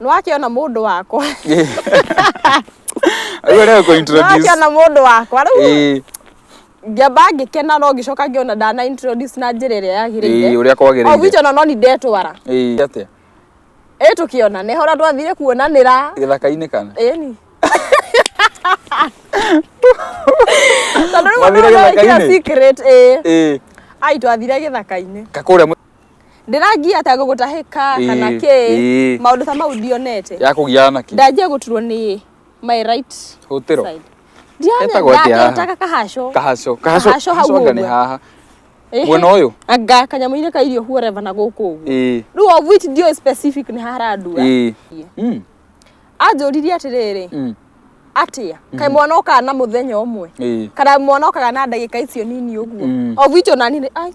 nĩ wakĩona mũndũ wakwa Rĩu rĩu kũ nĩ introduce. wakĩona mũndũ wakwa rĩu Ĩĩ, ngĩamba ngĩkena no ngĩcoka ngĩona ndana introduce na njĩra ĩrĩa ĩĩ, yagĩrĩire ũrĩa kwagĩrĩire. ogwitũ na no ni ndetwara Ĩĩ, atĩa? ĩ tũkĩona nĩ hora twathire kuonanĩra Gĩthaka-inĩ kana? ĩni tondũ rĩu Mwathire mũndũ nĩ wĩkĩra gĩthaka-inĩ? secret ĩĩ Ĩĩ, ai twathire gĩthaka-inĩ kakũrĩa mũ- ndĩrangia ta gũgũtahĩka Ĩĩ, kana kĩ ĩĩ. maũndũ ta mau ndionete ya kũgiana na kĩ ndanjia gũturwo nĩ my right hũtĩro side Etagwo atĩa haha? ndianetaga kahaco kahaco kahaco Kahaco hau kahaco anga nĩ ũguo. haha Ĩhĩ. mwena ũyũ anga kanyamũ-inĩ ka irio huoreva na gũkũ ũguo ĩĩ rĩu of which ndio specific nĩ harandua ĩĩ Mm, anjũririe atĩrĩrĩ mm, atĩa kaĩ mwana okaga na mũthenya ũmwe ĩĩ kana mwana okaga na ndagĩka icio nini ũguo Mm. of which onani nĩ ai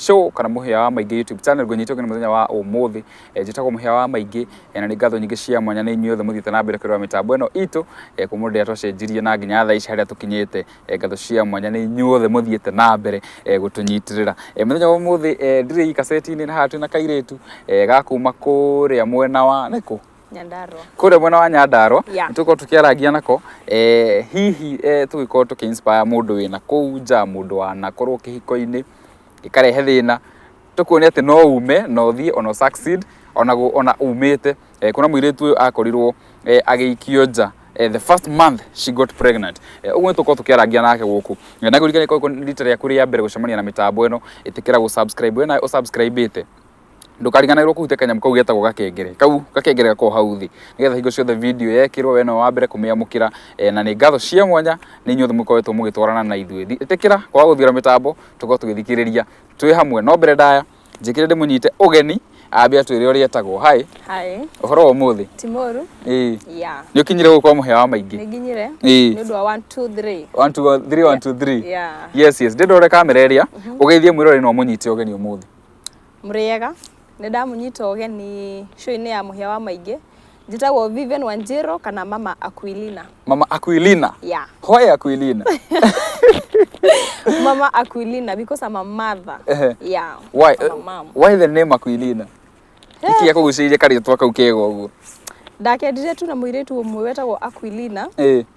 show kana muhia wa maingi youtube channel gwe nyitwo muthenya wa umuthi eh, njitagwo muhia wa maingi eh, na ni ngatho nyingi cia mwanya ni inyuothe muthite na mbere kwirwa mitambo ino itu eh, kumu ndia twacenjirie na nginya tha ici haria tukinyite eh, ngatho cia mwanya ni inyuothe muthite na mbere eh, gutunyitirira eh, muthenya wa umuthi eh, ndire ikaseti-ini na hatu na kairetu eh, gakuma kuria mwena wa niku Nyandarua. kũrĩa mwena wa Nyandarua Yeah. nĩtũkorwo tũkĩarangia nako eh, hihi eh, tũgĩkorwo tũkĩ inspire mũndũ wĩna kũu nja mũndũ wanakorwo kĩhiko-inĩ ĩkarehe thĩna tũkuonia atĩ no ume no thiĩ ona succeed ona, gũ- ona umĩte eh, kuna mũirĩtu ũyũ akorirwo eh, agĩikio nja eh, the first month she got pregnant eh, ũguo nĩtũkorwo tũkĩarangia nake gũkũ Eh, na kũririkana korwo rita rĩaku rĩa mbere gũcemania na mĩtambo ĩno ĩtĩkĩra gũ subscribe we nawe ũsubscribe ĩte ndũkariganĩrwo kũhutia kanyamũ kau getagwo gakengere kau gakengere gakorwo hau thĩ nĩgetha hingo ciothe video yekĩrwo we no wa mbere kũmĩamũkĩra eh, na nĩ ngatho cia mwanya nĩ inyuothe mũkoretwo mũgĩtwarana na ithuĩ ĩtĩkĩra kwaga gũthiũra mĩtambo tũkorwo tũgĩthikĩrĩria twĩ hamwe no mbere ndaya njĩkĩre ndĩmũnyite ũgeni ambe atwĩre ũrĩa etagwo hai Hi, ũhoro wa ũmũthĩ Timoru. ĩĩ Yeah. nĩ ũkinyire gũkorwo mũhĩa wa maingĩ Nĩnginyire. Ĩĩ. Nĩ ũndũ wa 1 2 3. One, two, one, three, one, two, three. Yeah. yes yes ndĩndore kamera ĩrĩa ũgeithie mwĩrore na ũmũnyite ũgeni ũmũthĩ Mũrĩega, nĩ ndamũnyita ũgeni show-inĩ ya mũhĩa wa maingĩ. Njĩtagwo Vivian Wanjĩrũ kana Mama Aquilina. Mama Aquilina. Yeah. Why Aquilina? Mama Aquilina because I'm a mother. Ehe. Yeah. Why? I'm a mom. Why the name Aquilina? Nĩkĩ gĩakũgucĩrĩirie karĩtwa kau kega ũguo? Ndakendire tu na mũirĩtu ũmwe wetagwo Aquilina. Ĩĩ.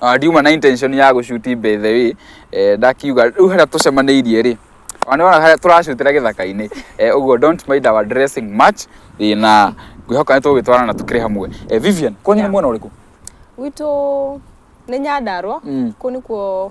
Ah, ndiuma na intention ya gũcuti by the way eh, ndakiuga rĩu harĩa tũcemanĩirie rĩ ona nĩwona harĩa tũracutĩra gĩthaka-inĩ eh, ũguo don't mind our dressing much eh, na ngwĩhoka nĩ tũgũgĩtwarana na tũkĩrĩ hamwe eh, Vivian kwanyu nĩ mwena ũrĩkũ witũ nĩ nyandarwa Mm. kũu nĩkuo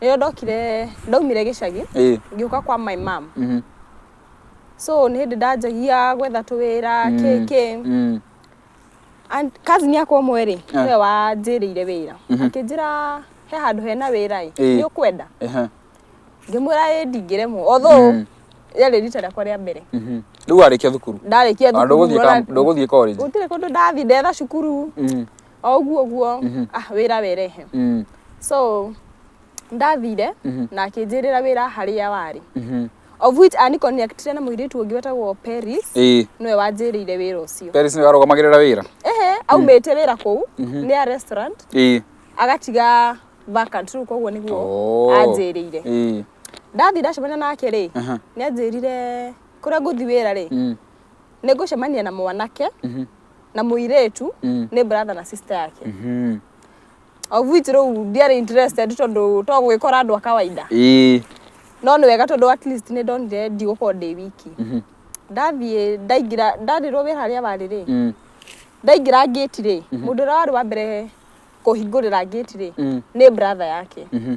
rĩrĩa ndokire ndaumire gĩcagi Ĩĩ. ngĩũka kwa my mom Mhm. so nĩ hĩndĩ ndanjagia gwetha tũwĩra kĩ kĩ Mm. And cousin yakwa ũmwe rĩ Ah. nĩwe wanjĩrĩire wĩra akĩnjĩra he handũ hena wĩra ĩ Ĩĩ. nĩ ũkwenda Ehe. ngĩmwĩra ĩ ndingĩremwo although Mm. rĩarĩ rita rĩakwa rĩa mbere Mhm. rĩu warĩkia thukuru ndarĩkia Ah, thukuru ndũgũthiĩ ũrona- ka- ndũgũthiĩ college gũtirĩ kũndũ ndathiĩ ndetha cukuru Mm. o ũguo ũguo mhm. ah, wĩra werehe mm. so ndathire mhm. na akĩnjĩrĩra wĩra harĩa warĩ mhm. of which ani connectire na mũirĩtu ũngĩ wetagwo Paris nĩwe wanjĩrĩire wĩra ũcio Paris nĩwe arũgamagĩrĩra wĩra ehe aumĩte mm. wĩra kũu nĩ ya restaurant agatiga vacant rĩu koguo nĩguo oh. anjĩrĩire ndathi ndacemania nake rĩ nĩ anjĩrire kũrĩa ngũthi wĩra rĩ mm. nĩ ngũcemania na mwanake mhm. na muiretu Mm. ni brother na sister yake Mhm. of which riu ndiari interested tondu to gwikora andu a kawaida Ĩĩ. no ni wega tondu at least ni ndonire ndigukorwo ndi wiki Mhm. ndathie ndaingira ndarirwo wira haria bari ri Mm. ndaingira ngĩti rĩ mũndũ ũrĩa warĩ wa mbere kũhingũrĩra ngĩti rĩ Mm. nĩ brother yake Mhm.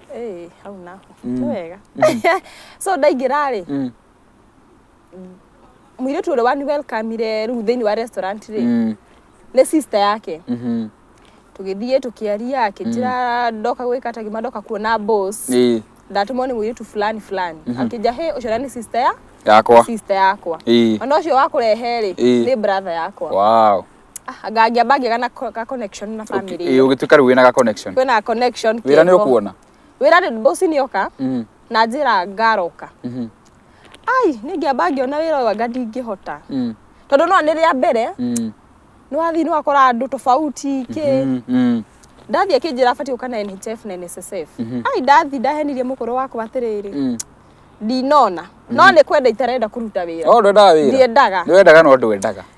Ĩĩ, hau naho nĩ wega so ndaingĩra rĩ Mm. mũirĩtu ũrĩa wani welcomire rĩu thĩinĩ wa restaurant rĩ Mm. nĩ sister yake Mhm. tũgĩthiĩ tũkĩaria akĩnjĩra ndoka gwĩka ta gima ndoka kuona boss Ĩĩ. ndatũmwo nĩ mũirĩtu fulani fulani akĩnja he ũcio nĩ sister ya yakwa sister yakwa Ĩĩ. ona ũcio wakũrehe rĩ Ĩĩ. nĩ brother yakwa wow Ah, nga- ngĩamba ngĩga na co- ga connection na family Ĩĩ, ĩyo. ũgĩtuĩka rĩu wĩna ga connection kwĩna ga connection wĩra nĩ kĩho. ũkuona wĩra nĩ bosi nĩ oka Mhm, na njĩra ngaroka mhm, ai nĩ ngĩamba ngĩona wĩra ũyũ anga ndingĩhota mhm, tondũ no nĩ rĩa mbere mhm, nĩ wathiĩ nĩ wakora andũ tofauti kĩ mhm, mhm. ndathiĩ akĩnjĩra batiĩ gũka na NHF na NSSF Mhm. ai ndathiĩ ndahenirie mũkũrũ wakwa atĩrĩrĩ Mhm. ndinona no nĩ kwenda itarenda kũruta wĩra Oh, ndwendaga wĩra ndiendaga nĩ wendaga no ndwendaga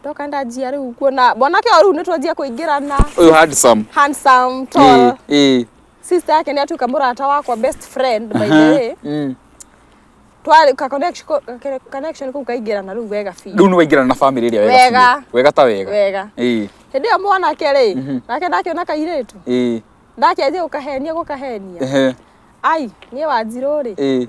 ndoka ndanjia rĩu kuona mwanake ũyũ rĩu nĩ twanjia kũingĩrana Ũyũ handsome. handsome tall Eh, eh. sister yake nĩ atuĩka mũrata wakwa best friend by the way Mm. twarĩ ka connection ko- ka- connection kau kaingĩrana rĩu wega biũ Rĩu nĩ waingĩrana na family ĩrĩa wega. Wega. biũ. Wega ta wega. wega Eh, hĩndĩ ĩyo mwanake rĩ nake ndakĩona kairĩtu eh. ndakĩanjia gũkahenia gũkahenia Ehe, ai niĩ wanjirũ rĩ eh.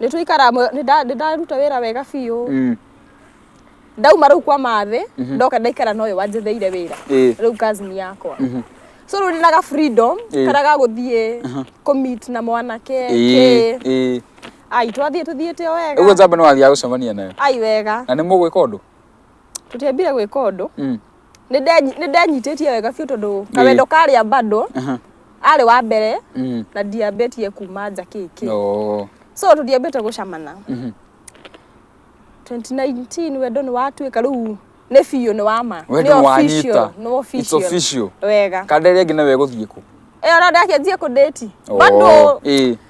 nĩ tũikara hamwe- nĩ nda- nĩ ndaruta wĩra wega biũ Mm. ndauma rĩu kwa mathĩ ndoka ndaikara na ũyũ wanjetheire wĩra Ĩĩ. rĩu cousin yakwa so rĩu ndĩ na ga freedom Ĩĩ. karĩa ga gũthiĩ kũmit na mwanake Ĩĩ, kĩ ĩĩ. ai twathiĩ tũthiĩte o ũguo wega njamba nĩ wathiaga gũcemania nayo ai wega na nĩ mũgwĩka ũndũ tũtiambire gwĩka ũndũ Mm. nĩ ndenyitĩtie wega biũ tondũ kawendo karĩa bado arĩ wa mbere mm. na ndiambĩtie kuma nja kĩkĩ so tũtiambĩte gũcamana 2019 mhm. wendo nĩ watuĩka rĩu nĩ biũ nĩ wama nĩ official wega kanderia nginya wegũthiĩ kũ ĩyo no ndakĩanjia kũndĩti bado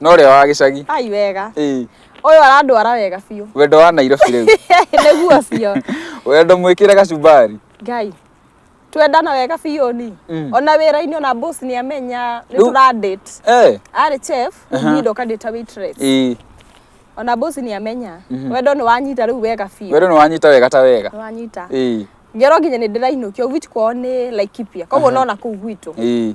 No ũrĩa wa gĩcagi. Ai wega. Ĩĩ. Ũyũ arandwara wega biũ. Wendo wa Nairobi rĩu. Nĩguo biũ. Wendo mwĩkĩre gacumbari. Ngai. Twendana wega biũ ni. Mm. Ona wĩra-inĩ ona boss nĩ amenya nĩ tũra date. Eh. Arĩ chef, niĩ ndoka ndĩ ta waitress. Ĩĩ. Ona boss nĩ amenya. Mhm. Wendo nĩ wanyita rĩu wega biũ. Wendo nĩ wanyita wega ta wega. Nĩ wanyita. Ĩĩ. Ngero nginya nĩ ndĩrainũkio gwitũ kwao nĩ Laikipia. Koguo no na kũu gwitũ. Ĩĩ.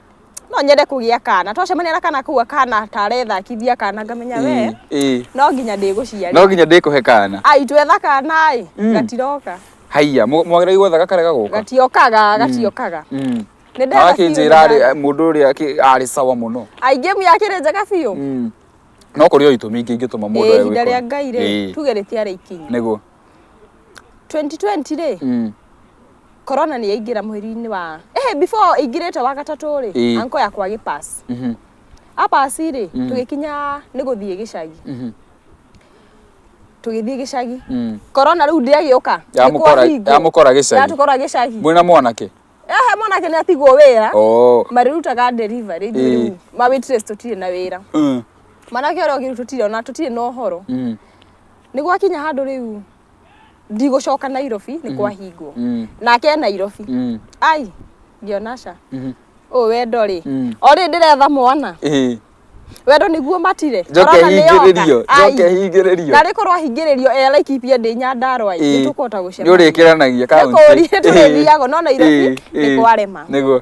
no nyende kũgĩa kana twacemania na kana kau akana tarethakithia kana ngamenya we Ĩĩ, ĩĩ. no nginya ndĩgũciarĩ no nginya ndĩkũhe kana aitũ etha kana ĩ Mm. gatiroka haiya mũ- mwagĩrĩirwo gwetha gakare gagoka gatiokaga gatiokaga Mm. Nĩ ndetha Nake biũ njĩra arĩ- nĩgetha- mũndũ ũrĩa akĩ- arĩ sawa mũno aingĩ mu yakĩrĩ njega biũ Mm. no kũrĩ o itũmi ingĩ ingĩtũma mũndũ Ĩĩ, awe ihinda wĩkore. rĩa ngai rĩ Ĩĩ, tuge rĩtiarĩ ikinyi nĩguo 2020 rĩ Mm. corona nĩ yaingĩra mweri-inĩ wa eh before ingirĩte wa gatatũ rĩ Ĩĩ. anko yakwa gĩpass Mhm. apass rĩ Mm. tũgĩkinya nĩ gũthiĩ gĩcagi Mhm. tũgĩthiĩ gĩcagi Mm. corona rĩu ndĩagĩũka Yamũkora- yamũkora gĩcagi. yatũkora gĩcagi mwĩna mwanake ehe mwanake nĩ atigwo wĩra Oh. marĩrutaga delivery ithuĩ Ĩĩ. rĩu ma waitress tũtirĩ na wĩra Mm. mwanake ũrĩa ũngĩ rĩu tũtirĩ ona tũtirĩ na ũhoro Mm. nĩ gwakinya handũ rĩu ndigũcoka nairobi nĩ mm. kwahingwo mm. nake e nairobi mm. ai ngĩona ca mm-hmm. ũyũ wendo rĩ o rĩ ndĩretha mwana wendo niguo matire njoke hingĩrĩrio njoke hingĩrĩrio na rĩkorwo ahingĩrĩrio e laikipia ndĩ nyandarwa nĩ tũkũhota gũcemania nĩ ũrĩkĩranagia kaunti nĩ kũũria tũrĩthiaga no nairobi nĩ kwarema nĩguo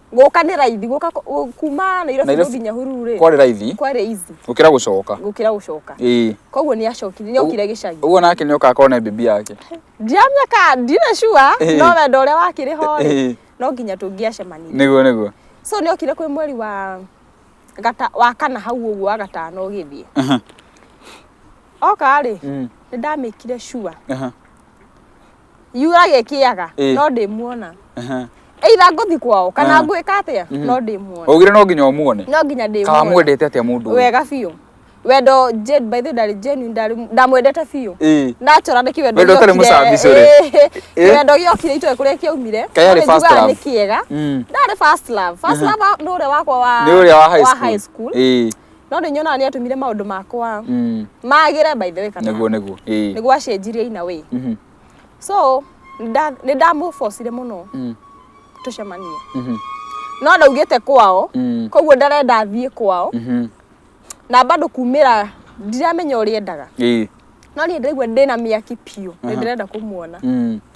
gũka nĩ raithi gũka kũ- kuma nairobi Nairobi. gũthinya hururu rĩ kwarĩ raithi kwarĩ easy gũkĩra gũcoka gũkĩra gũcoka ĩĩ koguo nĩ acokire nĩ okire gĩcagi ũguo nake nĩ okaga kone bibi yake ndiramenya ka ndina sure Ĩĩ. no wendo ũrĩa wakĩrĩ ho rĩ Ĩĩ. no nginya tũngĩacemanirie nĩguo nĩguo so nĩ okire kwĩ mweri wa gata wa kana hau ũguo wa gatano ũgĩthiĩ Aha, oka rĩ Mm. nĩ ndamĩkire sure aha. yurage kiaga Eh. no ndimuona Ehe. either ngũthi kwao kana Ah. ngwĩka atĩa no ndimuona Ugire no nginya umuone. no nginya Kawa ndimuona mwendete atia mundu. uyu? wega biũ wendo Jane, by the way, ndarĩ genuine, ndarĩ- ndamwendete biũ Eh. nachora nä kä Wendo ũtarĩ mũcambicu rĩ? Eh. wendo gä okire itoä kå rä a kä aumire Kaĩ arĩ first love? nä kä ega Mm. ndarä nä å rä a wakwa wa Ni uria wa high wa school. high school Eh. no nĩ nyonaga nĩ atũmire maũndũ makwa Mm. magĩre by the way kana Nĩguo nĩguo. Ĩĩ. nĩguo acenjirie in a way Mhm. so nda- nĩ ndamũbocire mũno Mm. tũcemanie Mhm. no ndaugĩte kwao Mm. koguo ndarenda thiĩ kwao Mhm. na bado kumĩra ndiramenya ũrĩa endaga Ĩĩ. no niĩ ndaigua ndĩna mĩaki biũ nĩ ndĩrenda kũmuona Mm.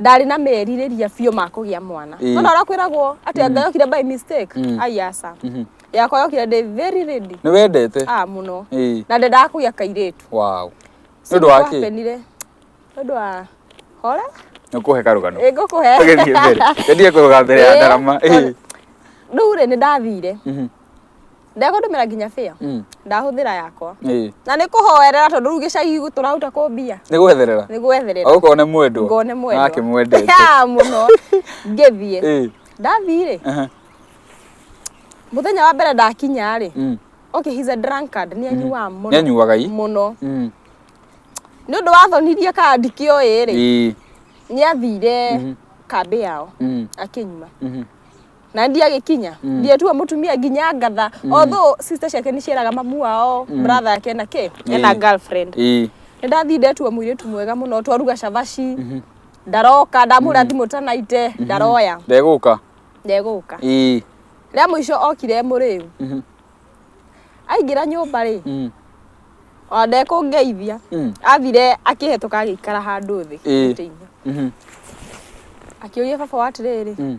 ndarĩ na merirĩria biũ ma kũgĩa mwana Ĩĩ. nona ũrĩa kwĩragwo atĩ anga yokire by mistake Mm. ai aca Mhm. yakwa yokire ndĩ very ready nĩ wendete ah mũno Ĩĩ. na ndendaga kũgĩa kairĩtu wow nĩ ũndũ wa kĩ Nĩkwapenire. Nĩ ũndũ wa hora nĩ kũhe karũgano ĩngũkũhe tũgĩthiĩ mbere tendie kũrũga mbere ya Ĩĩ, ndarama Ĩĩ. rĩu rĩ nĩ ndathire Mhm. ndegũtũmĩra nginya bĩa Mm. ndahũthĩra yakwa Ĩĩ. na nĩ kũhoerera tondũ rĩu gĩcagi gwitũ tũraruta kũ mbia nĩ gwetherera nĩ gwetherera agũkorwo nĩ mwendwo ngone mwendwa nake mwendete Ya, mũno ngĩthiĩ Ĩĩ. ndathiĩ-rĩ Aha. mũthenya wa mbere ndakinya-rĩ Mm. okay he's a drunkard nĩ anyuaga mũno nĩ anyuaga i mũno Mm. nĩ ũndũ wathonirie kandi kĩoĩ-rĩ Ĩĩ. nĩ athire kambĩ yao Mm. akĩnyua Mhm. na ndiye agĩkinya ndiye tuo mũtumia nginya ngatha although sister ciake nĩ cieraga mamu wao brother yake ena kĩ ena Eh. girlfriend ĩ nĩ ndathiĩ ndetua mũirĩtu mwega mũno twaruga cabaci ndaroka ndamũra thimũ tanaite ndaroya ndegũka ndegũka ĩ rĩa mũico okire mũrĩu Mhm. aingĩra nyũmba rĩ Mm. ona ndekũngeithia Mm. athire akĩhetũka agĩikara handũ thĩ Ĩ. gĩtĩ-inĩ. Mhm. akĩũria baba wa atĩrĩrĩ Mm.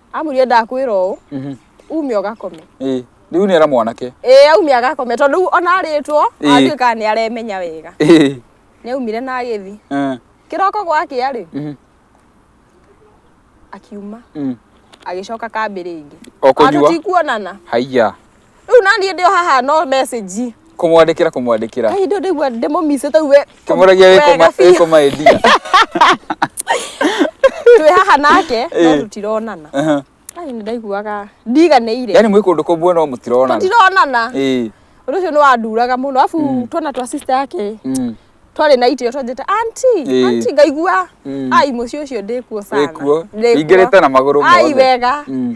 amwĩrire ndakwĩra ũũ Mhm. ume ũgakome Ĩĩ. Rĩu nĩ era mwanake. ĩĩ aumire agakome tondũ rĩu ona arĩtwo Ĩĩ. atuĩkaga nĩ aremenya wega Ĩĩ. nĩ aumire na agĩthi Eh. kĩroko gwakĩa rĩ Mhm. akiuma Mm. agĩcoka kambĩ rĩngĩ O kũnyua. tikuonana Haiya. Rĩu naniĩ ndĩ o haha no message. Kũmwandĩkĩra kũmwandĩkĩra. Ai ndio ndaigua ndĩmũmice tau we. Kĩmũragia wĩ koma wĩ koma endia. Twĩ haha nake no Eh. tũtironana. Aha. Ai nĩ ndaiguaga ndiganĩire. Yaani mwĩ kũndũ kũmwe no mũtironana. Tũtironana. Ĩĩ. Ũndũ ũcio nĩ wanduraga mũno. Arabu twana twa sister yake Mm. twarĩ na itĩo twanjĩte auntie Ĩĩ. auntie ngaigua Mm. ai mũciĩ ũcio ndĩkuo sana Wĩkuo. Ndĩkuo. Ingĩrĩte na magũrũ ai mothe. wega Mm.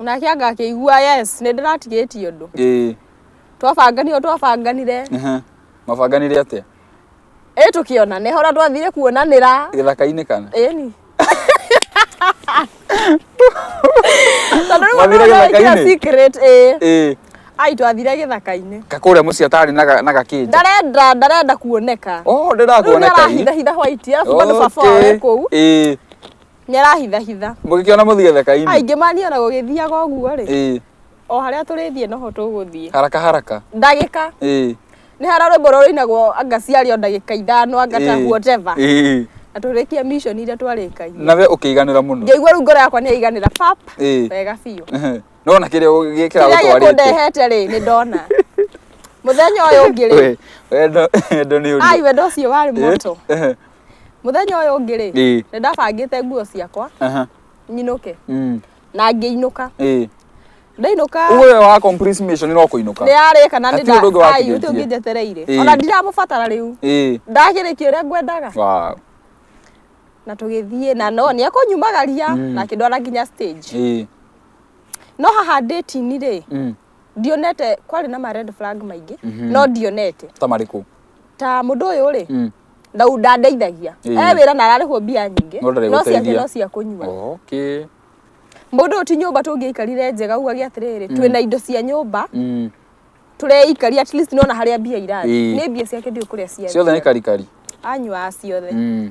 nake angakĩigua yes nĩ ndĩratigĩtie ũndũ ĩĩ twabanganire twabanganire ehe. mabanganire atĩa ĩ tũkĩonane hora twathire kuonanĩra gĩthaka-inĩ kana ĩni tondũ rĩu Mwathire mũndũ nĩekĩra gĩthaka-inĩ? secret ĩ ĩĩ ai twathire gĩthaka-inĩ kakũrĩa mũciĩ atarĩ na ga- na gakĩnja ndarenda ndarenda kuoneka o rĩu ndĩrakuoneka ii. nĩarahithahitha hwaiti arabu bado baba wawe kũu ĩĩ nĩarahithahitha mũgĩkĩona mũthige thekainĩ aingĩ maniona gũgĩthiaga ũguo rĩ ĩĩ o harĩa tũrĩthiĩ noho tũgũthiĩ haraka haraka ndagĩka ĩĩ nĩ hara rwĩmbo rũrĩa rũinagwo anga ciarĩ o ndagĩka ithano anga ta ĩĩ, whatever ĩĩ na tũrĩkie mission iria twarĩkagia na we ũkĩiganĩra mũno ngĩigua rĩu ngoro yakwa nĩyaiganĩra pap Ĩĩ. wega biũ Ehe. nona kĩrĩa ũgĩ- kĩrĩa kĩragũtwarĩte gĩkũndehete rĩ nĩ ndona mũthenya ũyũ ũngĩ rĩ We, wendo wendo nĩ ũndũ ai wendo ũcio warĩ moto Ehe. muthenya uyu ungi ri Ĩĩ. ni ndabangite nguo ciakwa Aha. nyinuke Mm. na ngiinuka Ĩĩ. ndainuka Uwe wa complete mission no kuinuka. ni ari kana ni Hatirĩ ũndũ ũngĩ watigĩtie. uti ungi njetereire Ĩĩ. ona ndiramubatara riu Ĩĩ. ndagirikia uria ngwendaga Wow. na tugithie na no ni akunyumagaria na kindwara nginya stage Ĩĩ. no haha nditini ri Mm. ndionete kwarĩ na ma red flag maingĩ no ndionete ta marĩkũ ta mũndũ ũyũ rĩ Mm. na ndandeithagia Ĩĩ. e wĩra na ararĩhwo mbia nyingĩ No ndarĩ no ciake gũteithia. no cia kũnyua okay mũndũ ũyũ ti nyũmba tũngĩikarire njega uga gĩa atĩrĩrĩ twĩ na indo cia nyũmba mm. tũreikaria at least nona harĩa mbia irathiĩ Ĩĩ. nĩ mbia ciake ndiũ kũrĩa ciothe nĩ ciathiĩ karikari anyua ciothe mm.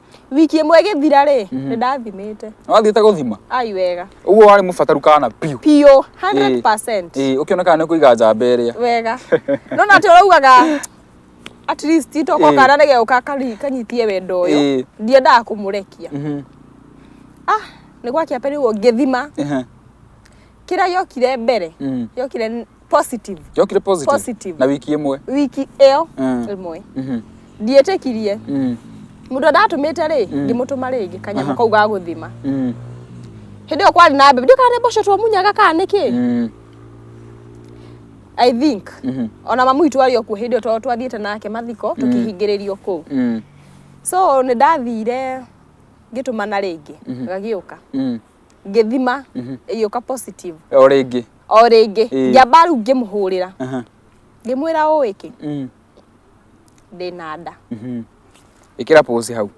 wiki ĩmwe ĩgĩthira rĩ nĩ ndathimĩte wathiĩte gũthima ai wega ũguo warĩ mũbataru kana biũ biũ 100% Ĩĩ, ũkĩona kana nĩ kũiga njamba ĩrĩa wega no na tũraugaga at least Ĩĩ. toko kana nĩ geuka kari- kanyitie wendo ũyũ Ĩĩ. ndiendaga kũmũrekia Mhm, ah nĩ gwakia pere ũguo ngĩthima ehe, kĩrĩa gĩokire mbere mhm. gĩokire positive yokire positive, Positive. na wiki imwe wiki ĩyo Mm. ĩmwe Mhm. ndiĩtĩkirie Mm. mũndũ ndatũmĩte rĩ ngĩmũtũma rĩngĩ kanyamũ kau ga gũthima Mm. hĩndĩ ĩyo kwarĩ na mbembe ndiũ kana nĩ mboco twamunyaga kana nĩ kĩ Mm. i think Mhm. ona mamu witũ arĩ okuo hĩndĩ ĩyo tondũ twathiĩte nake mathiko tũkĩhingĩrĩrio kũu Mm. so nĩ ndathire ngĩtũmana rĩngĩ gagĩũka Mm. ngĩthima ĩgĩũka positive o rĩngĩ o rĩngĩ Ĩĩ. ngĩamba rĩu ngĩmũhũrĩra Aha. ngĩmwĩra ũĩ kĩ Mm. ndĩna nda Mhm. ĩkĩra pose hau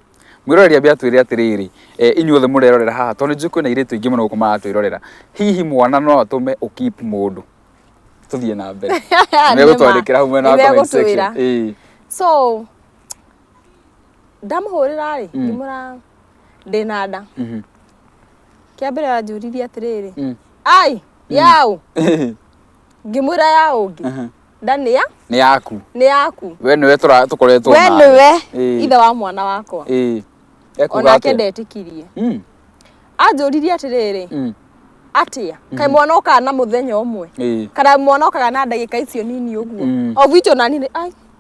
mwĩroreri ambia twĩre atĩrĩrĩ e, inyuothe mũrerorera haha tondũ nĩnjũĩ kwĩna irĩtu ingĩ mũno gũkũ maratwĩrorera hihi mwana no atũme ũkip mũndũ tũthiĩ na mbere Nĩma. megũtwandĩkĩra hau mwena wa comment section. Nĩmegũtwĩra. Ĩĩ. so ndamuhurira ri Mm. ngimura ndina nda Mhm. kia mbere anjuririe atiriri Mm. ai yau ngimura ya ungi Aha. nda ni ya nä yaku ni yaku we nä we tå koretwo we ni we Ĩĩ. ithe wa mwana wakwa onake ndetikirie Mm, anjuririe atiriri mm, atia kai mwana okaga na muthenya umwe ĩĩ. kana mwana okaga na ndagika icio nini uguo Mm. o gwitå nani rĩ ai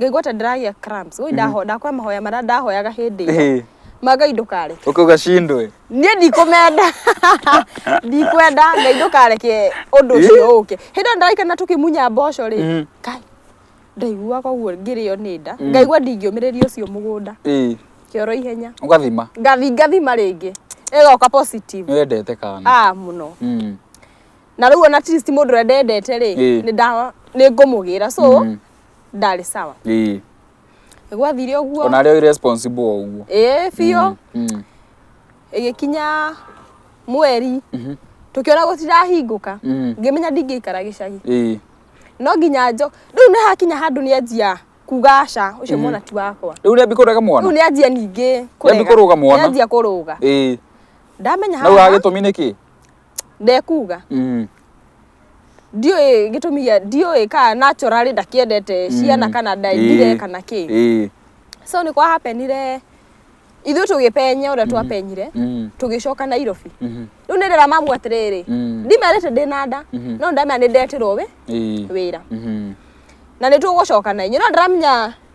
ngaigua ta ndĩragĩa cramps woi ndaho ndakwa mahoya marĩa ndahoyaga hĩndĩ ĩyo Ĩhĩ. ma ngai ndũkareke Ũkauga cindwe. niĩ ndikũmenda ndikwenda ngai ndũkareke ũndũ ũcio ũke hĩndĩ ĩyo ndĩraikana tũkĩmunya mboco rĩ Mhm. ngai ndaiguaga ũguo ngĩrĩo nĩ nda ngaigua ndingĩũmĩrĩria ũcio mũgũnda Ĩĩ. kĩoro ihenya Ũgathima. ngathi ngathima rĩngĩ ĩgoka positive Nĩwendete kana. ah mũno Mm. na rĩu ona at least mũndũ ũrĩa ndendete rĩ Ĩĩ. nĩ ndawa nĩ ngũmũgĩra so Mm. ndarĩ sawa ii gwathire ũguo ona arĩ o irresponsible o ũguo ĩĩ biũ Mm. ĩgĩkinya mweri tũkĩona gũtirahingũka Mhm. ngĩmenya ndingĩikara gĩcagi ii no nginya njo rĩu nĩ hakinya handũ nĩ anjia kuga aca ũcio mwana ti wakwa rĩu nĩambi kũrega rĩu mwana nĩ anjia ningĩ Nĩambi kũrũga mwana? nĩ anjia kũrũga ii ndamenya nau haha agĩtũmi nĩkĩ ndekuga Mm. ndiũĩ gĩtũmi gĩa ndiũĩ kana naturally ndakiendete ciana kana Ĩĩ. ndaendire kana kĩ Ĩĩ. so nĩ kwa hapenire ithuĩ tũgĩpenya ũrĩa twapenyire Mm. tũgĩcoka nairobi Mhm. rĩu nĩ ndĩra mamu atĩrĩrĩ Mm. ndimerĩte ndĩ na nda Mhm. no ndamenya nĩ ndetirwo wĩ Ĩĩ. wĩra Mhm. na nĩ tũgũcoka na inyuĩ no ndĩramenya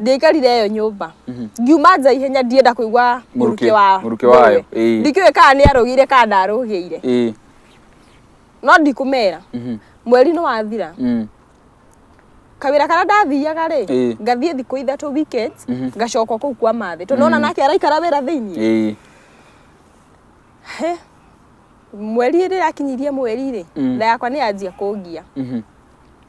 ndĩikarire yo nyũmba mhm. ngiuma nja ihenya ndienda kũigua mũrukĩ wa mũrukĩ wayo ndikĩũĩ kana nĩ arũgĩire kana ndarũgĩire no ndikũmera mhm. mweri nĩ wathira mm. kawira karĩa ndathiaga rĩ ngathiĩ thikũ ithatũ weekend mhm. ngacoka kũu kwa mathĩ tondũ ona mm. nake araikara wĩra thĩiniĩ mweri rĩrakinyirie mweri rĩ mm. nda yakwa nĩ yanjia kũngia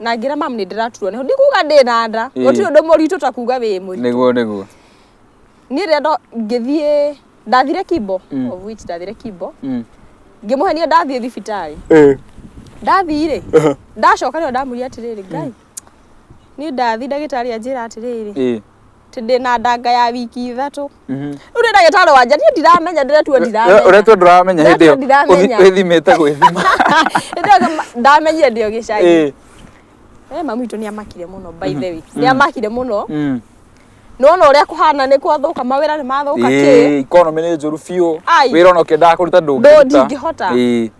na ngĩra mamu nĩ ndĩraturwo nĩ ho ndikuga ndĩ na nda Ĩĩ. gũtirĩ ũndũ mũritũ ta kuga wĩ mũritũ nĩguo nĩguo niĩ rĩrĩa ndo- ngĩthiĩ ndathire kimbo Mm. of which ndathire kimbo Mm. ngĩmũhenia ndathiĩ thibitarĩ Eh. ndathiĩ-rĩ ndacoka rĩo ndamũria atĩrĩrĩ ngai niĩ ndathiĩ ndagĩtarĩ anjĩra atĩrĩrĩ Ĩĩ. Atĩ ndĩna ndanga ya wiki ithatũ rĩu nĩ ndagĩtarĩ wanja niĩ ndiramenya ndĩretua ndiramenya ũretwo ndũramenya hĩndĩ Ndĩretwo ĩyo ndiramenya. ũthi- wĩthimĩte gwĩthima Hĩndĩ ĩyo ngama- ndamenyire ndĩ o gĩcagi Ĩĩ. Eh, mamu witũ nĩ amakire mũno by the way nĩ amakire mũno Mm. nona ũrĩa kũhana nĩ kwathũka mawĩra nĩ mathũka kĩ Ĩĩ, economy nĩ njũru biũ Ai. wĩra ona ũkĩendaga kũruta Ndũ- ndũngĩruta ndingĩhota. Ĩĩ.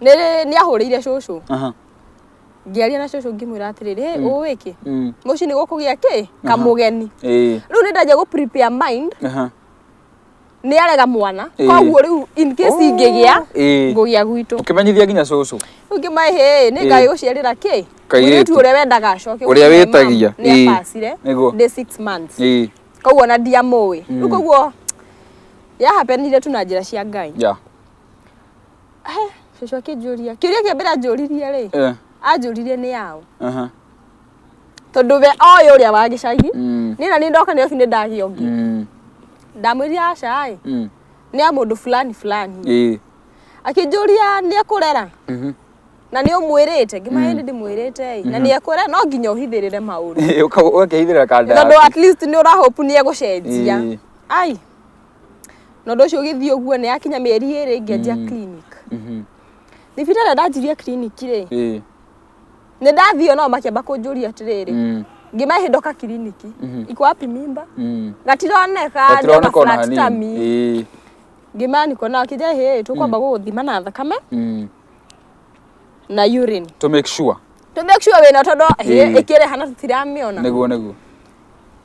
nĩ nĩ ahũrĩire cũcũ Aha. ngĩaria na cũcũ ngĩmwĩra atĩrĩrĩ "Hey, ũĩ kĩ Mm. mũciĩ nĩ gũkũgĩa kĩ kamũgeni Eh. rĩu nĩ ndanjia gũ prepare mind Aha. nĩ arega mwana Ĩĩ. koguo rĩu in case Oh, ingĩgĩa ĩĩ. ngũgĩa gwitũ Ũkĩmenyithia nginya cũcũ. rĩu ngĩmaĩ hĩ nĩ Ĩĩ. ngai gũciarĩra kĩ Kairĩtu. mũirĩtu ũrĩa wendaga acoke Ũrĩa gũciara wĩtagia. mama, nĩ Ĩĩ. abacire Nĩguo. ndĩ six months Eh. koguo na ndiamũĩ rĩu koguo yahapenire tu na njĩra cia ngai Yeah. He, cũcũ akĩnjũria kĩũria kĩa mbere anjũririe rĩ Eh, anjũririe nĩ yaũ aha. tondũ we oĩ ũrĩa wa gĩcagi Mm, nina nĩ ndoka nĩoki nĩ ndagĩa ũngĩ mm, ndamwĩrire aca ĩ mm. nĩ ya mũndũ fulani fulani Ĩĩ. akĩnjũria nĩ ekũrera Mhm. na nĩ ũmwĩrĩte ngĩmaĩ nĩ ndĩmwĩrĩte ĩ na nĩ ekũrera no nginya ũhithĩrĩre maũndũ Ĩĩ, ũka- ũgakĩhithĩrĩra kanda tondũ yaku. at least nĩ ũrahopu nĩ egũcenjia Ĩĩ. ai na ũndũ ũcio ũgĩthiĩ ũguo nĩ yakinya mĩeri ĩrĩ ngĩanjia mm. clinic mhm. thibitarĩ mm ndanjirie clinic rĩ eh. nĩ ndathiĩ o nao makĩamba kũnjũria atĩrĩrĩ mm. ngimahe ndoka kiriniki mhm. iko wapi mimba mm. gatironeka ndona flat tummy eh. ngimaya niko nao kija hĩ tũkwamba mm. gũgũthima na thakame mm. na urine to make sure to make sure wĩna tondũ ĩkĩrĩ hana tũtiramĩona nĩguo nĩguo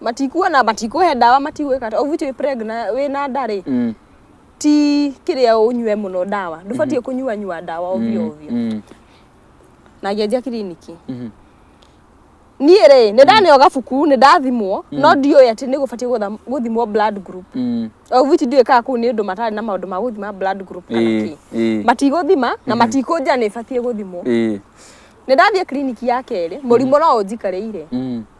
matikuona matikũhe ndawa matigwĩka atĩa. ũbuti wĩ pregnant wĩ na nda rĩ Mm. ti kĩrĩa ũnyue mũno ndawa ndũbatiĩ kũnyua nyua ndawa ovyo ovyo Mm. na ngĩanjia kiriniki Mhm. niĩ rĩ nĩ ndaneo gabuku nĩ ndathimwo no ndiũĩ atĩ nĩ gũbatiĩ gũtha- gũthimwo blood group Mm. obuti ndiũĩ kaa kũu nĩ ũndũ matarĩ na maũndũ ma gũthima blood group kana Ĩĩ, kĩ ĩĩ. matigũthima na matikũnja nĩ batiĩ gũthimwo Ĩĩ. nĩ ndathiĩ kiriniki ya kerĩ mũrimũ no ũnjikarĩire Mm.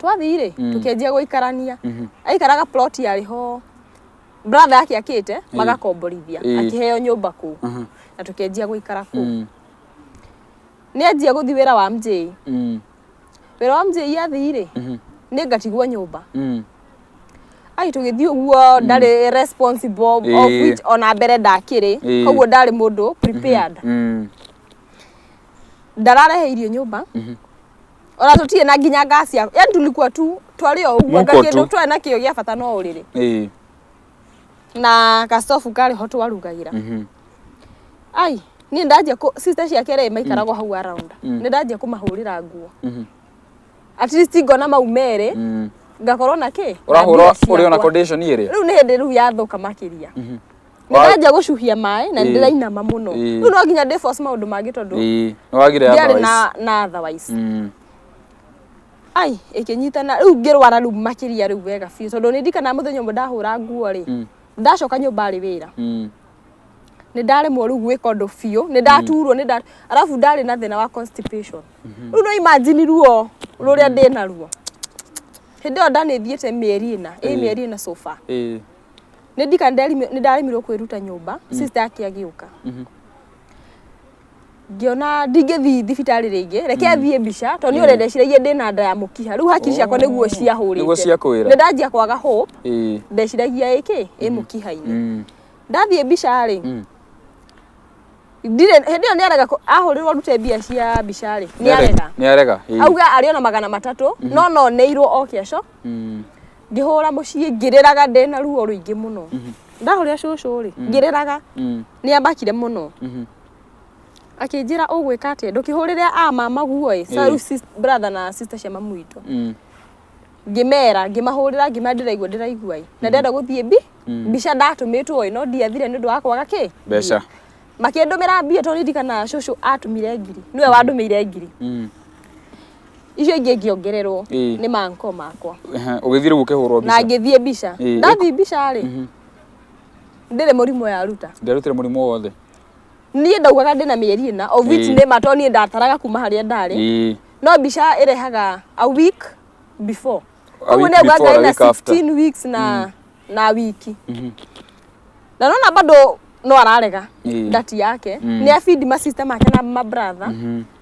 twathiĩ rĩ mm. tũkĩanjia gũikarania mm -hmm. aikaraga plot yarĩ ho brother yake akĩte mm. magakomborithia mm. akĩheo nyũmba kũu mm -hmm. na tũkĩanjia gũikara kũu mm. nĩ anjia gũthiĩ wĩra wa mjei mm. wĩra wa mjei athiĩ rĩ mm -hmm. nĩ ngatigwo nyũmba mm ai tugithii uguo mm. ndari responsible of which ona mbere ndakiri koguo ndari mundu prepared mm-hmm. Mm-hmm. ndararehe irio nyumba mm-hmm. ona tũtirĩ na nginya ngaci ya yani tulikuwa tu twarĩ o ũguo Mũko tu. kĩndũ twarĩ na kĩo gĩa bata no ũrĩrĩ Eh. na gastofu karĩ ho twarugagĩra Mhm. ai niĩ ndanjia kũ- sister ciake rĩ maikaragwo hau around Mm. nĩ ndanjia kũmahũrĩra nguo Mhm. at least ngona mau merĩ Mm. ngakorwo na kĩ na Ũrahũra mbia ũrĩ ona ciakwa. condition ĩrĩ. rĩu nĩ hĩndĩ rĩu yathũka makĩria Mhm. Wa- nĩndanjia gũcuhia maĩ na Ĩĩ. nĩndĩrainama mũno Ĩĩ. rĩu no nginya ndĩbos maũndũ mangĩ tondũ Ĩĩ, nĩwagire ndiarĩ otherwise. na na otherwise Mm. ai ĩkĩnyitana rĩu ngĩrwara rĩu makĩria rĩu wega biũ tondũ nĩndikana mũthenya ũmwe ndahũra nguo rĩ Mm. ndacoka nyũmba rĩ wĩra Mm. nä ndaremwo rä u gwä ka å ndå biå nä ndaturwo nä nda arabu ndarä na thä na wa constipation rä u no imajini ruo rå rä a ndä naruo hä ndä ä yo ndanä thiä te mä eri ä na ä mä eri ä na sofa Ĩĩ. nä ndika nä ndaremirwo kwä ruta nyå mba mm. sister yake agä å ka mhm. ngĩona ndingĩthiĩ thibitarĩ rĩngĩ reke mm. thiĩ mbica tondũ nĩ mm. ũrendeciragia ndĩ na nda ya mũkiha rĩu hakiri ciakwa nĩguo oh. ciahũrĩte nĩ ndanjia kwaga hope ndeciragia ĩkĩ ĩ mm. mũkiha-inĩ ndathiĩ mbica rĩ ndire hindi yo niarega ahurirwo rute mbia cia mbica ri niarega niarega auga ari ona magana matatu mhm. no no neirwo o kesho Mm. ngĩhũra mũciĩ ngĩrĩraga ndĩ na ruo rũingĩ mũno Mhm. ndahũrĩra cũcũ rĩ ngĩrĩraga Mm. nĩ amakire mũno Mhm. akĩnjĩra ũgwĩka atĩa ndũkĩhũrĩre a mama guo ĩ Ĩĩ. Saru sis- brother na sister cia mamu witũ Mm. ngĩmera ngĩmahũrĩra ngĩmera ndĩraigua ndĩraigua ĩ na ndenda gũthiĩ mbi Mm. mbica ndatũmĩtwo ĩ no ndiathire nĩ ũndũ wa kwaga kĩ Mbeca. makĩndũmĩra mbia tondũ ndirikana cũcũ atũmire ngiri nĩwe wandũmĩire ngiri Mm. icio ingĩ ingĩongererwo Ĩĩ. nĩ manko makwa Ehe, ũgĩthiĩ rĩu ũkĩhũrwo na mbica ngĩthiĩ mbica Ĩĩ. ndathiĩ mbica rĩ ndĩrĩ mũrimũ yaruta nderutire mũrimũ wothe niĩ ndaugaga ndĩna mĩeri ĩna of which Ĩĩ. nĩ ma to niĩ ndataraga kuma harĩa ndarĩ Ĩĩ. no mbica ĩrehaga a week before A koguo week nĩ augaga before, a ngarĩ na week after. 16 weeks na na wiki na nona bado no ararega Ĩĩ. ndati yake nĩ abindi masista make na mabrother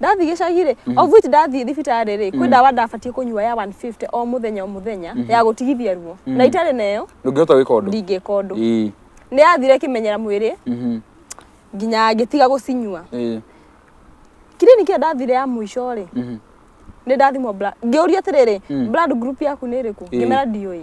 ndathiĩ gĩcagi rĩ mm. of which ndathiĩ thibitarĩ rĩ kwĩ mm. ndawa ndabatiĩ kũnyua ya 150 o mũthenya o mũthenya mm-hmm. ya gũtigithia ruo mm. na itarĩ nayo ndũngĩhota gwĩka ũndũ ndingĩka ũndũ nĩ yathire kĩmenyera mwĩrĩ mm-hmm. nginya ngĩtiga gũcinyua kirini kĩrĩa ndathire ya mũico rĩ mm-hmm. nĩ ndathimwo ngĩũria atĩrĩrĩ blood group yaku nĩ ĩrĩkũ ngĩmera ndiũĩ